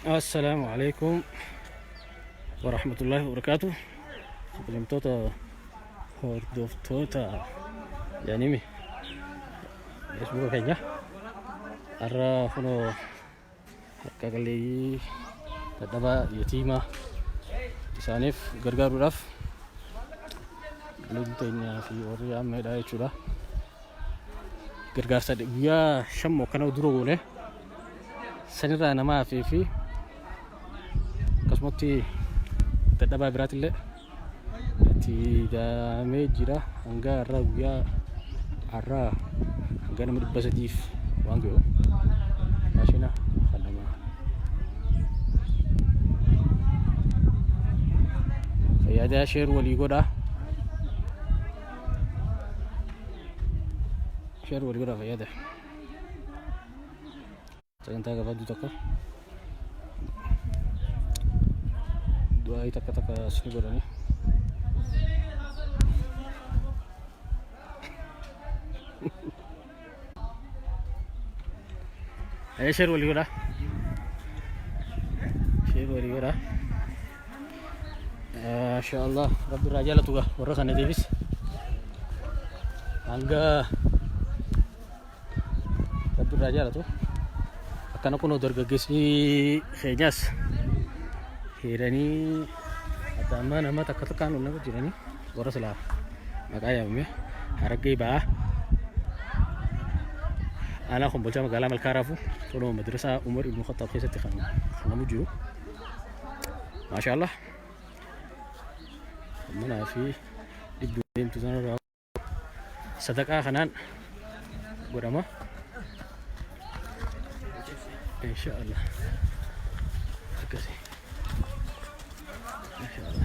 Assalaamu alaikum wa rahmatullahi wa barakaatu. Bilimtoota hordoftoota yaanimi Facebooka keenya har'a kunoo harka qalleeyyii dadhabaa yatiimaa isaaniif gargaaruudhaaf lubni teenyaa fi warri ammeedhaa jechuudha. gargaarsa guyyaa shan moo akkana dura goone sanirraa nama hafee fi akkasumatti dadhabaa biraatillee itti daamee jira hanga har'aa guyyaa har'aa hanga nama dhibba sadiif waan ga'u maashina kan nama fayyadaa sheer walii godhaa Share wal godhaa fayyada. Sagantaa gabaabduu tokko. Du'aayii takka takka as ni godhani. Ee sheer walii godhaa. Sheer walii godhaa. Masha Allah rabbi irraa jaalatu gaa warra kana deebis. Hanga rabbi irraa jaalatu. Akkana kunoo dargaggeessi keenyaas hiriiranii adda ammaa nama takka takkaan ol nama jiranii. Warra silaa maqaa yaamame Harargee ba'aa. Aanaa Kombolchaa magaalaa Malkaa Raafuu kunoo madrasaa Umar Ibn Khattaab keessatti kan argamu jiru. Maashaallah. Manaa fi dhibbi deemtu sanarraa sadaqaa kanaan godhama inshaallah akkasi inshaallah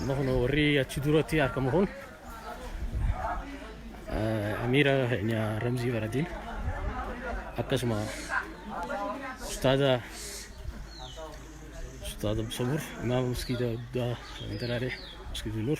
amma kun warri achi duratti argamu kun eh, amiira keenya ramzii baradiin akkasuma ustaaza ustaaza sabur imaama maskiida guddaa daraalee maskiida nur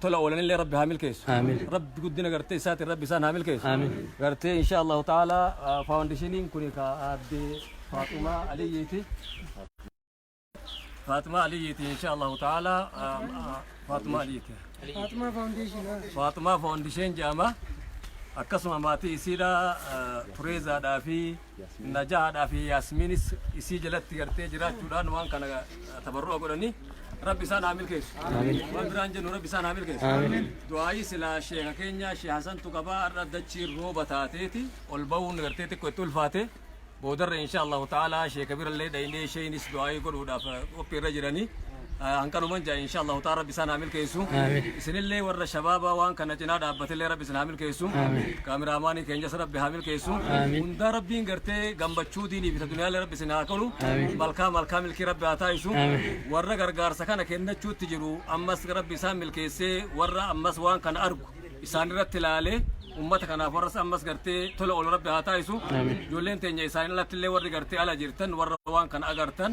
tola oolanillee rabbi haa milkeessu Amiin. rabbi guddina gartee isaatiin rabbi isaan haa milkeessu Amiin. gartee insha allahu taala faawundeshiniin kun ka aadde faaxumaa aliyyiiti faaxumaa aliyyiiti insha allahu taala faaxumaa aliyyiiti Fatima Foundation. faaxumaa faawundesheen jedhama akkasuma maatii isiidha tureezaadhaa fi Najaadhaa fi Yaasmiinis isii jalatti gartee jiraachuudhaan waan kana tabarru'a godhanii rabbi isaan haa milkeessu. Waan biraan jennu rabbi isaan haa milkeessu. Du'aayii silaa sheeka keenya shee Hasantu qabaa har'a dachiin rooba taateeti ol ba'uun gartee xiqqoo itti ulfaate. Boodarra insha Allahu ta'ala sheeka birallee dhaynee sheenis du'aayii godhuudhaaf qophii irra jiranii. Hanqanuman ja'a insha Allahu ta'ala rabbi isaan haa milkeessu. Isinillee warra shabaabaa waan kana cinaa dhaabbatillee rabbi isin haa milkeessu. Kaamiraamaanii keenyas rabbi haa milkeessu. Hundaa rabbiin gartee gammachuu diinii fi addunyaa rabbi isin haa kennu. Malkaa malkaa milkii rabbi haa taasisu. Warra gargaarsa kana kennachuutti jiru ammas rabbi isaan milkeessee warra ammas waan kana argu isaan irratti ilaalee ummata kanaaf warras ammas gartee tola ol rabbi haa taasisu. Ijoolleen teenya isaan alatti illee warri gartee ala jirtan warra waan kana agartan.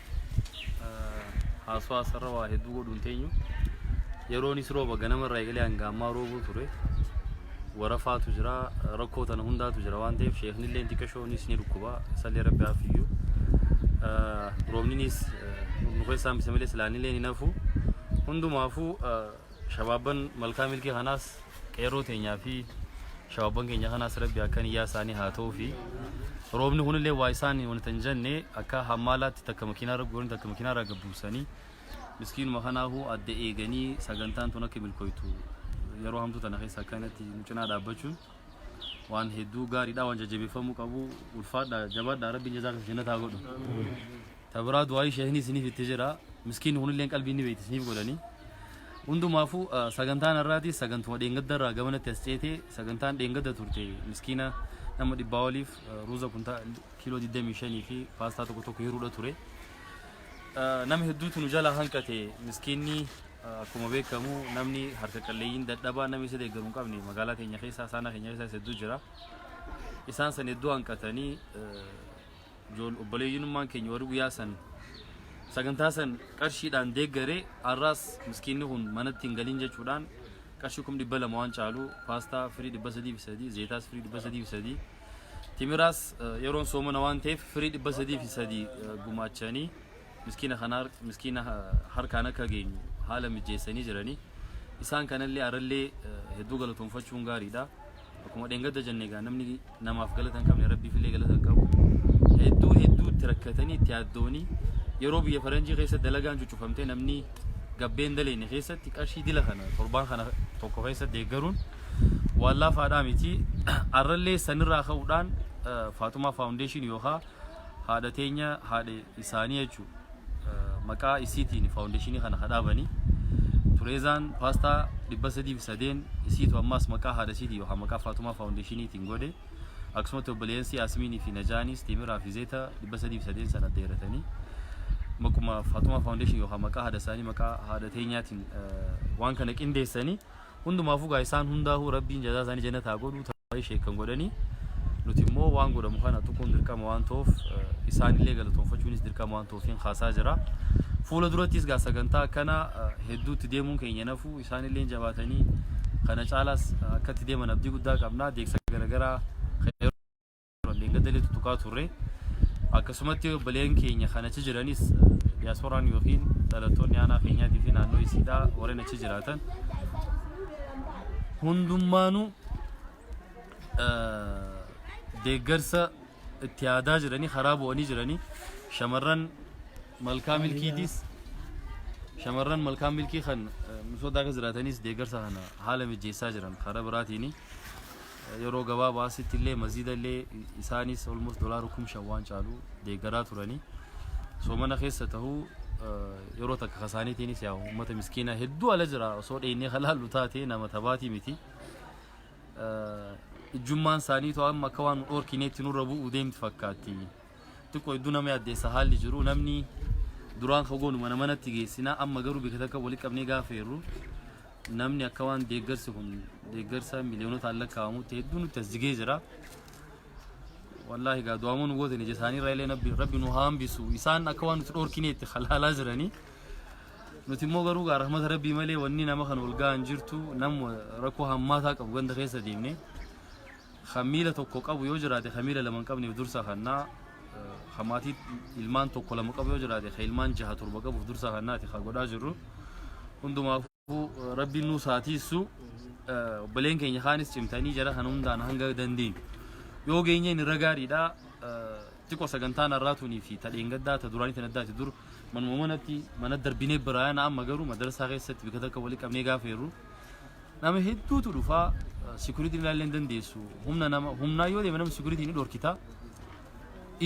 haasawaa sarara waa hedduu godhuun teenyu yeroonis rooba ganama irraa eegalee hanga ammaa roobuu ture warafaatu jira rakkoo tana hundaatu jira waan ta'eef sheeknillee xiqqashoonis ni dhukkuba sallee rabbi haafiyyu roobninis nu keessaa hambise malee silaanillee ni nafu hundumaafuu Shabaabban malkaa milkii kanaas qeerroo teenyaa fi shabaabban keenya kanaas rabbi akka niyyaa isaanii haa ta'uu fi roobni kunillee waa isaan wanta hin jenne akka hammaalaatti takka makiinaa irra guuranii takka makiinaa irraa gabbuusanii miskiinuma kanaafuu adda eeganii sagantaan tun akka milkooytu yeroo hamtuu tana keessa akkanatti nu cinaa dhaabbachuun waan hedduu gaariidha waan jajjabeeffamuu qabu ulfaadha jabaadha rabbiin jazaa kan jennata haa godhu. Tabiraa du'aayi sheekni isiniif itti jira. Miskiin kunillee qalbii ni beekti isiniif godhani. Hundumaafuu sagantaan har'aatis sagantuma dheengadda irraa gamanatti as ceetee sagantaan dheengadda turte miskiina nama dhibbaa oliif ruuza kuntaa kiiloo 25 fi paastaa tokko tokko hiruudha ture. Nama hedduutu nu jalaa hanqate miskiinni akkuma beekamu namni harka qalleeyyiin dadhabaa namni isa deeggaru hin qabne magaalaa keenya keessaa saanaa keenya keessaa hedduu jira. Isaan san hedduu hanqatanii Ijool obboleeyyinummaan keenya warri guyyaa san sagantaa san qarshiidhaan deeggaree har'aas miskiinni kun manatti hin galin jechuudhaan qarshii kum dhibba lama waan caalu paastaa firii dhibba sadii fi sadii zeetaas firii dhibba sadii fi sadii timiraas eh, yeroon soomana waan ta'eef firii dhibba sadii fi sadii eh, gumaachanii Miskiina kana miskiina harkaan akka geenyu haala mijjeessanii jiranii. Isaan kanallee arallee hedduu galatoomfachuun gaariidha. Akkuma dheengadda jenne egaa namni namaaf galata hin qabne rabbiifillee galata hin qabu. Hedduu hedduu itti rakkatanii itti yaaddoonii yeroo biyya faranjii keessa dalagaan cuccufamtee namni gabbeen daleenne keessatti qarshii dila kana torbaan kana tokko keessa deeggaruun waan laafaadhaa miti. Arrallee sanirraa ka'uudhaan Faatumaa Faawundeeshinii yookaan Haadha teenya haadha isaanii jechuun maqaa isiitiin faawundeeshinii kana ka dhaabanii Tureezaan paastaa dhibba sadii fi sadeen isiitu ammaas maqaa haadha isiitiin yookaan maqaa Faatumaa faawundeeshiniitiin godhe akkasumatti obboleeyyansi Yaasimiinii fi Najaanis Teemiraa fi Zeeta dhibba sadii fi sadeen sana dheeratanii maquma Faatumaa faawundeeshinii yookaan maqaa haadha isaanii maqaa haadha teenyaatiin eh, waan kana qindeessanii Hundumaafuu gaa isaan hundaahuu rabbiin jazaa isaanii jannata haa godhu tawaayii sheek kan godhanii nuti immoo waan godhamu kana tuquun dirqama waan ta'uuf eh, isaanillee galatoonfachuunis dirqama waan ta'uuf hin kaasaa jira. Fuula durattis gaa sagantaa akkana eh, hedduutti deemuun keenya nafu isaanillee jabaatanii kana caalaas eh, akkatti deeman abdii guddaa qabna deegsa garaagaraa kan yeroo Gaddalee tuttuqaa turre akkasumatti obboleen keenya kan achi jiranis diyaaspooraan yookiin dhalattoonni aanaa keenyaatii fi naannoo isiidhaa warreen achi jiraatan hundummaanuu deeggarsa itti yaadaa jiranii karaa bu'anii jiranii shamarran malkaa milkiitis shamarran malkaa milkii kan misoota akka jiraatanis deeggarsa kana haala mijeessaa jiran karaa biraatiini. Yeroo gabaabaa asitti illee maziida illee isaanis almost dolaara kum shan waan caalu deeggaraa turanii soomana keessa tahuu yeroo takka kasaaniitiinis yaa uummata miskiinaa hedduu ala jira osoo dheeynee halaallu taate nama tabaatii miti. Ijjummaan isaaniitu amma akka waan nu dhorkineetti nurra bu'u deemti fakkaatti. Xiqqoo hedduu nama yaaddeessa haalli jiru namni duraan fagoonu mana manatti geessina amma garuu bika takka walitti qabnee gaafa jirru namni akka waan deeggarsi kun deeggarsa miliyoonota lakkaa'amutti hedduu nutti as jigee jira. Wallaahi gaa du'aamuu nu gootan ija isaanii irraa illee nabbi- rabbi nu haa hambisu isaan akka waan nuti dhorkineetti halaalaa jiranii. Nuti immoo garuu gaa rahmata rabbii malee wanni nama kan ol ga'an jirtu nama rakkoo hammaataa qabu ganda keessa deemnee. Kan miila tokko qabu yoo jiraate kan miila lama hin qabneef dursa kannaa, kan maatii ilmaan tokko lama qabu yoo jiraate kan ilmaan jaha torba qabuuf dursa kannaati kan godhaa jirru. Hundumaafuu rabbiin nuu saatiissu obboleen keenya kaanis cimtanii jara kan hundaan hanga dandeenyu. Yoo geenyeen irra gaariidha. Xiqqoo sagantaan har'aatuunii fi tadheen gaddaa ta duraanii tan addaati dur manuma manatti mana darbinee biraayana amma garuu madarsaa keessatti bika takka walii qabnee gaafeerru. Nama hedduutu dhufa sikuritiin ilaallee hin dandeessu. Humna nama humnaa yoo deeme nama sikuritiin ni dhorkita.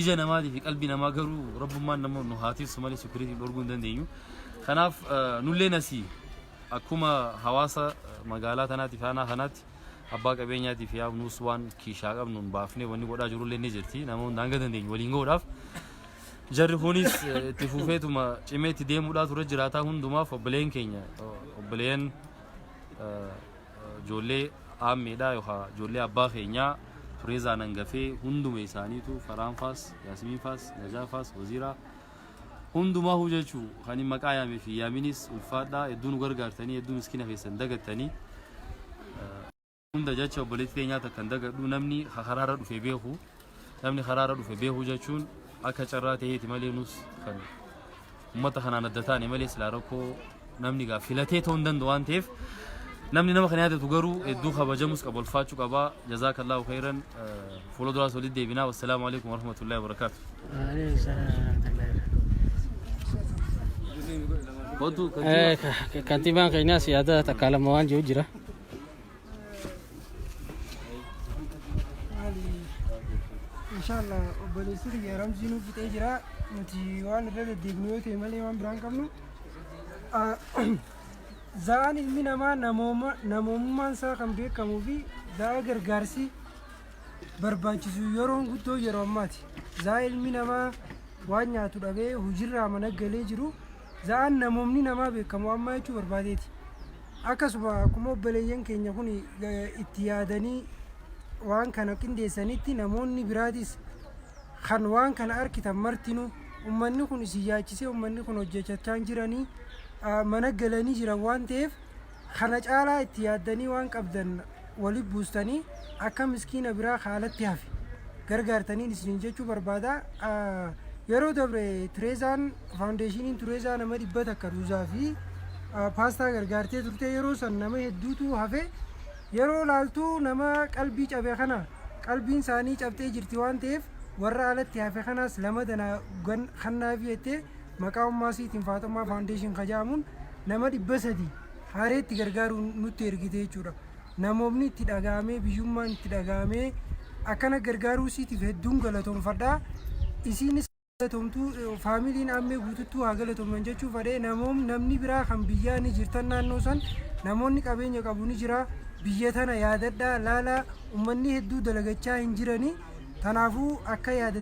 Ija namaatii fi qalbii namaa garuu rabbummaan nama nu haa tiksu malee sikuritiin dhorguu hin dandeenyu. Kanaaf nulleen asii akkuma hawaasa magaalaa tanaatti fi aanaa kanaatti abbaa qabeenyaatii fi yaamnuus waan kiishaa qabnuun baafnee wanni godhaa jirullee ni jirti. Nama hunda hanga dandeenyu waliin godhaaf. Jarri kunis itti fufeetuma cimeetti deemuudhaa ture jiraataa hundumaaf obboleen keenya obboleen Ijoollee aammeedhaa yookaan ijoollee abbaa keenyaa Fireezaan hangafee hunduma isaaniitu Faraan faas, Yaasimiin faas, Najaa faas, Waziiraa hundumaa huu jechuu kan hin maqaa yaamee fi yaaminis ulfaadhaa hedduu nu gargaartanii hedduu miskina keessan dagattanii. Hunda jecha obboleetti teenyaa takkan dagadhu namni karaarra dhufe beeku namni karaarra dhufe beeku jechuun akka carraa ta'eeti malee nus kan uummata kanaan adda taane malee silaa rakkoo namni gaaf filatee ta'uu hin danda'u waan ta'eef namni nama kana yaadatu garuu hedduu kabajamus qaba ulfaachuu qaba jazaa kallaahu khayran fuula duraas walitti deebinaa wassalaamu alaikum warahmatullahi wabarakaatu. Kantiibaan keenyaas yaada takkaa lama waan jiru jira. Inshallah obboleessi kiyya ramzii nuuf fixee jira. Nuti waan irra deddeebinu yoo ta'e malee waan biraan qabnu. Ah, Za'aan ilmi namaa namooma namoomummaan isaa kan beekamuu fi za'a gargaarsi barbaachisu yeroon guddoo yeroo ammaati. Za'a ilmi namaa waan nyaatu dhabee hojiirraa mana galee jiru za'an namoomni namaa beekamu ammaa jechuu barbaadeeti. Akkasuma akkuma obboleeyyan keenya kun itti yaadanii waan kana qindeessanitti namoonni biraatis kan waan kana arkitan martinu ummanni kun isin yaachisee ummanni kun hojjechachaan jiranii mana galanii jiran waan ta'eef Kana caalaa itti yaaddanii waan qabdan wali buustanii akka miskiina biraa ka alatti hafe gargaartaniin isiniin jechuu barbaada. Yeroo dabre Tireezaan faawundeeshiniin Tureezaa nama dhibba takka ruuzaa fi paastaa gargaartee turte yeroo san nama hedduutu hafe yeroo laaltu nama qalbii cabe kana qalbiin isaanii cabxee jirti waan ta'eef warra alatti hafe kanaas lama dana kannaafi jettee Maqaa ummaa siitiin Faaxummaa Foundation ka ja'amuun nama 300 Hareetti gargaaruun nutti ergite jechuudha. Namoomni itti dhaga'amee biyyummaan itti dhaga'amee akkana gargaaruu siitiif hedduun galatoomfadha. Isiinis galatoomtuu faamiliin Ammee guututtuu haa galatooman jechuu fadhee namoom namni biraa kan biyyaa ni jirtan naannoo san namoonni qabeenya qabu ni jira biyya tana yaadadhaa laalaa ummanni hedduu dalagachaa hin jiranii tanaafuu akka yaada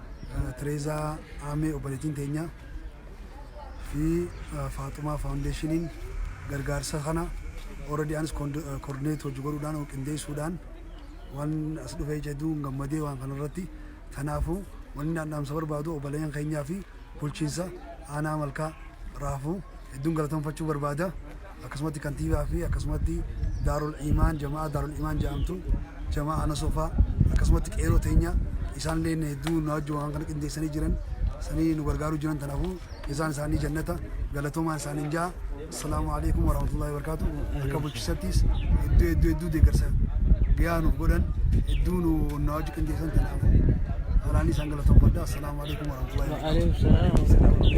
Tireezaa Aamee obboleettiin teenya fi Faaxumaa Faawundeeshiniin gargaarsa kana already anis koordineet hojii godhuudhaan qindeessuudhaan waan as dhufee jedhu gammadee waan kanarratti kanaafuu wanni naan dhaamsa barbaadu obboleeyyan keenyaa fi bulchiinsa aanaa malkaa raafuu hedduun galateeffachuu barbaada. akkasumatti kantiibaa fi akkasumatti daarul imaan jama'aa daarul imaan jedhamtu jama'aa ana sofaa akkasumatti qeeroo teenya isaan illee inni hedduu nu wajjin waan kana qindeessanii jiran sanii nu gargaaruu jiran tanaafuu isaan isaanii jannata galatoomaa isaaniin ja'a assalaamu alaikum warahmatullahi wabarakaatu akka bulchisattis hedduu hedduu hedduu deeggarsa gahaa nuuf godhan hedduu nu nu wajjin qindeessan tanaafuu halaanii isaan galatoomfadha assalaamu alaikum warahmatullahi wabarakaatu.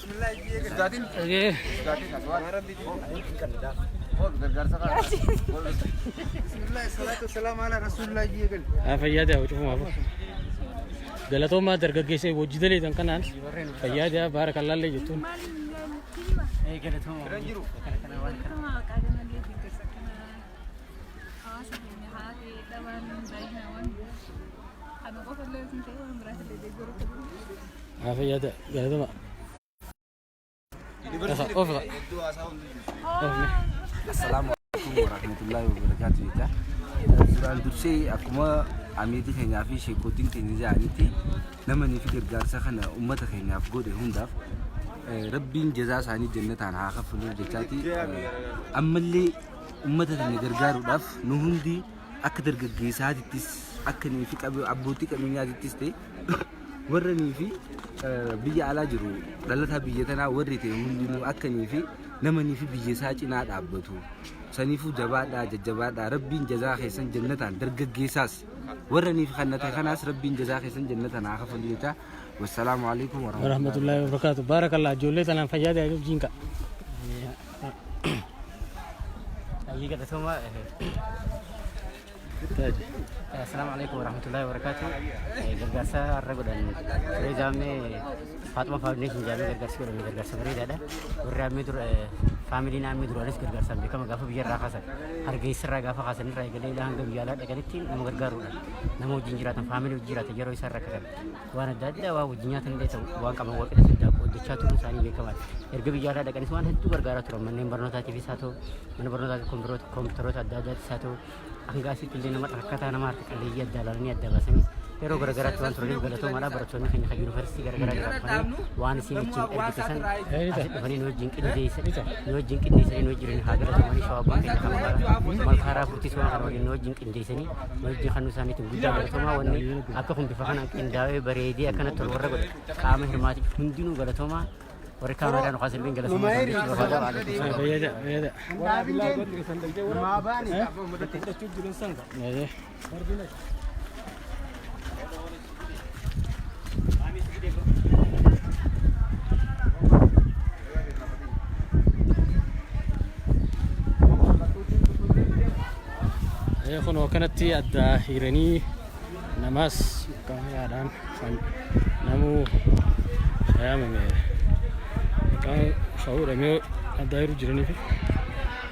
fayyaa ta'e cufumaaf galatoomaa dargaggeessee hojii daleetan kanaan fayyaa ta'e baara kan laallee jettuun. Kan qofa illee hin ta'e waan biraas illee deeggaruu qabu. Afiyata galatuma. Ofra. Assalaamu alaikum warahmatullahi wabarakatuh jecha duraan dursee akkuma amiitii keenyaa fi sheekootiin keenya jedhanitti namanii fi gargaarsa kana uummata keenyaaf godhe hundaaf eh, rabbiin jazaa isaanii jannataan haa kaffaluuf jechaati eh, ammallee uummata keenya gargaaruudhaaf nu hundi akka dargaggeessaatittis akka nuyi fi qabe- abbootii qabeenyaatittis ta'e warranii fi biyya alaa jiru dhalataa biyya tanaa warri ta'e hundinuu akkanii fi namanii fi biyya isaa cinaa dhaabbatu. Saniifuu jabaadhaa jajjabaadhaa rabbiin jazaa keessan jannataan dargaggeessaas warranii fi kan ta'e kanaas rabbiin jazaa keessan jannataan haa kafalu jecha. Wassalaamu alaikum warahmatullahi warahmatullahi wabarakatuh baarakallah ijoollee tanaan fayyaa ta'e wajjin ka'a Ayyii galatoomaa. Assalamu alaikum warahmatullahi wabarakatuh. Eh, Gargaarsa har'a godhan turee jaammee Faaxuma Faawundeeshin jaammee gargaarsi godhame gargaarsa bareedaadha. Warri ammee dura eh, faamilii naannoo duraanis gargaarsaan beekama gaafa biyyarraa kaasan hargeessarraa gaafa kaasan irraa eegalee ilaa hanga biyya alaa dhaqanitti nama gargaaruudha. Nama wajjin jiraatan faamilii wajjin jiraatan yeroo isaan rakkatan waan adda addaa waan wajjin nyaatan illee ta'u waan qaban wal qixatti daakuu hojjechaa turuun isaanii beekamaadha. Erga biyyaarraa dhaqanis waan hedduu gargaaraa turan manneen barnootaatiifis haa ta'u mana barnootaatiif kompiitaroota kompiitaroota adda addaattis haa ta'u hanga asitti illee nama rakkataa nama harka qalleeyyii adda ilaalanii adda baasanii yeroo garaagaraatti waan turaniif galatoomaadha barattoonni keenya kan yuunivarsiitii garaagaraa irraa dhufanii waan isin wajjin ergitesan asitti dhufanii nu wajjin qindeessan nu wajjin qindeessanii nu wajjin haa galatamanii shawaabban keenya kan maqaa malkaaraa furtiis waan kana waliin nu wajjin qindeessanii hojii kan isaaniitiin guddaa galatoomaa wanni akka kun bifa kanaan qindaa'ee bareedee akkanatti tolu warra godhe qaama hirmaatiif hundinuu galatoomaa warri kaameeraa nu kaasa illee galatoomaa isaaniif barbaada waalaikum salaam. Bayyada, bayyada. Maabaani. Bayyada. Eh, kunoo kanatti adda hiranii namaas qaamaadhaan kan namuu fayaamame kan hawuudhamee adda hiruu jiraniif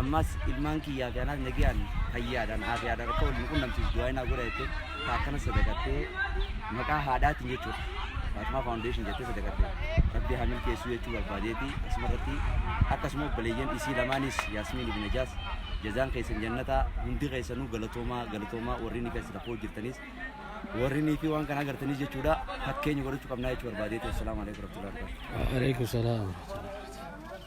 Ammas ilmaan kiyyaa fi anaas nagiyaan fayyaadhaan aafiyaadhaan akka wal nu qunnamsiisu du'aa inaa godha jettee taakkana sadaqattee maqaa haadhaatiin jechuudha. Faatimaa Faawundeeshin jettee sadaqattee rabbi haa milkeessuu jechuu barbaadeeti asumarratti akkasuma obboleeyyan isii lamaanis Yaasmiin ibn Najaas jazaan keessan jannataa hundi keessanuu galatoomaa galatoomaa warri ni keessan rakkoo jirtanis warri ni fi waan kana agartanis jechuudha fakkeenya godhachuu qabnaa jechuu barbaadeeti assalaamu alaikum warahmatullahi wabarakatuh. Waalaikum salaam.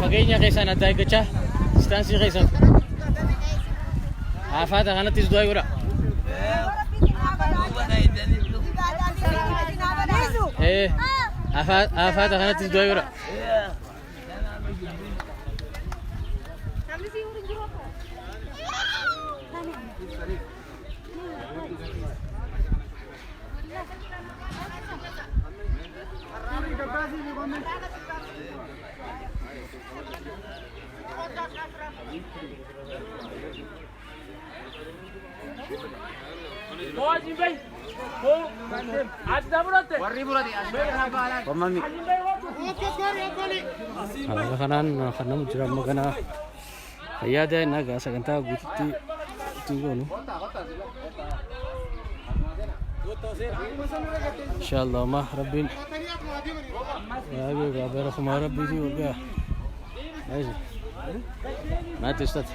Fageenya keessaan adda eeggachaa distaansii keessan. Haafaata kanattis du'a godha. Ee haafaata kanattis du'a godha. Wammamni. Haala kanaan kan namu jira amma ganaa. Fayyaa daa'imna egaa sagantaa guututti ittiin goonu. Inshaallah amma rabbiin baay'ee egaa bara kumaa rabbiitii waggaa. Maati ustaati.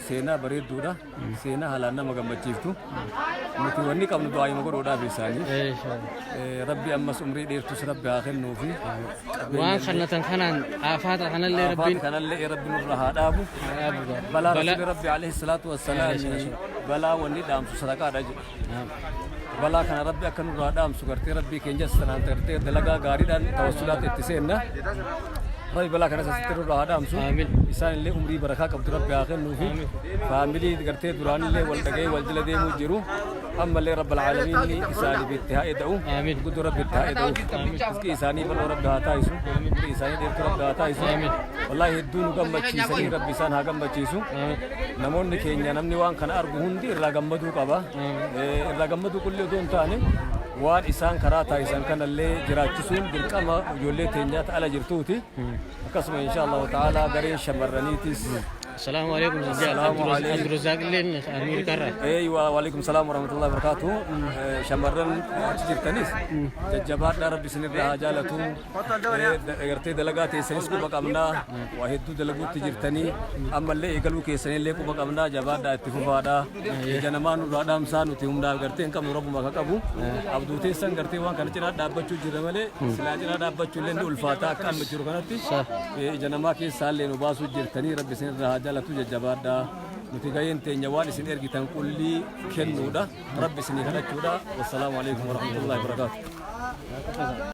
Seenaa bareedduudha. Seenaa haalaan nama gammachiiftu. Nuti wanni qabnu du'aayuma godhuudhaaf isaanii. Eh, Rabbi ammas umrii dheertus rabbi haa kennuufi. Waan kannatan kanaan aafaata kanallee Afaati rabbiin kanallee rabbi nurra haa dhaabu. dhaabu Balaa Balaa- rasuulli rabbi alayhi salaatu wassalaam balaa wanni dhaamsu sadaqaadha jedhe. balaa kana rabbi akka nurraa dhaamsu gartee rabbii keenya sanaan gartee dalagaa gaariidhaan tawassulaatti itti seenna rabbi balaa kana sasitti nurraa haa dhaamsu isaan illee umrii barakaa qabdu rabbi haa kennuufi faamilii gartee duraan illee wal dhagee wal jala deemuu jiru ammallee rabbi alaalamiin isaaniif itti haa eda'u guddoo rabbi itti haa eda'u iskii isaanii bal'oo rabbi haa taa'isu umrii isaanii dheertuu rabbi haa taa'isu wallaahi hedduu nu gammachiisanii rabbi isaan haa gammachiisu Namoonni keenya namni waan kana argu hundi irraa gammaduu qaba. Irraa gammaduu qullee otoo hin taane waan isaan karaa taasisan kanallee jiraachisuun dirqama ijoollee teenyaa ta'ala jirtuuti. Akkasuma insha Allah ta'ala gareen shamarraniitis. Salaamu alaikum Abdurrazaaq illeen Ameerikaa irraa. Ee waalaikum salaam warahmatullahi wabarakatuh. Shamarran achi jirtanis jajjabaadhaa rabbi isinirraa haa jaalatu. Gartee dalagaa teessanis quba qabnaa waa hedduu dalaguutti jirtanii ammallee eegaluu keessanillee quba qabnaa jabaadhaa itti fufaadhaa ija namaa nurraa dhaamsaa nuti humnaa gartee hin qabnu rabbuma akka qabu abduu teessan gartee waan kana cinaa dhaabbachuu jirra malee silaa cinaa dhaabbachuu illee ni ulfaataa akka amma jiru kanatti ija namaa keessaa illee nu baasuu jirtanii rabbi isin irraa haa jaalatu jajjabaadhaa. nuti gaheen teenya waan isin ergitan qullii kennuudha rabbi isinii kadhachuudha wassalaamu alaikum warahmatullahi wabarakaatu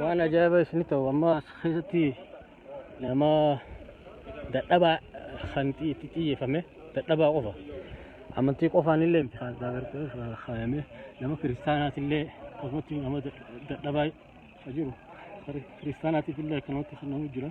waan ajaa'ibaa isin ta'u amma as keessatti nama dadhabaa kan itti xiyyeeffame dadhabaa qofa amantii qofaan illee miti kan agartee kaayame nama kiristaanaati illee akkasumatti nama dadhabaa jiru kiristaanaatiif illee akkanumatti kan nama jira.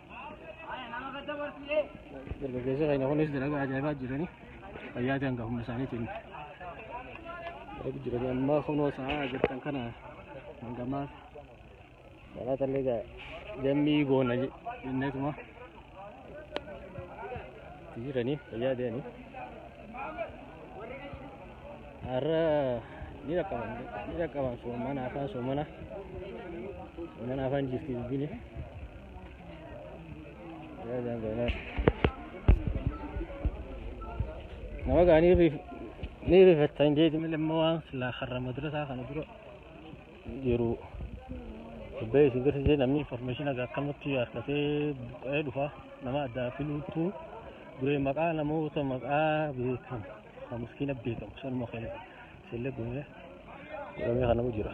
Dargaggeessa keenya kunis dalagaa ajaa'ibaa jiranii fayyaa ta'an gahumsa isaaniitiin eegu jiranii ammaa kunoo sa'aa jirtan kana hangamaa salaata illee gaa jammii goona je- jenneetuma itti jiranii fayyaa ta'anii har'a ni dhaqqaban ni dhaqqaban soomana afaan soomana soomana afaan jirti dubbini. Nama gaa ni riif ni riifattan jeeti malee immoo waan silaa karra madrasaa kana dura jiru dubbee isin garsiisee namni information aga akkamatti harkatee buqqa'ee dhufa nama addaa filuutu duree maqaa namoota maqaa beekamu kan miskiina beekamu sanuma keenya isillee gumee gumee kanamu jira.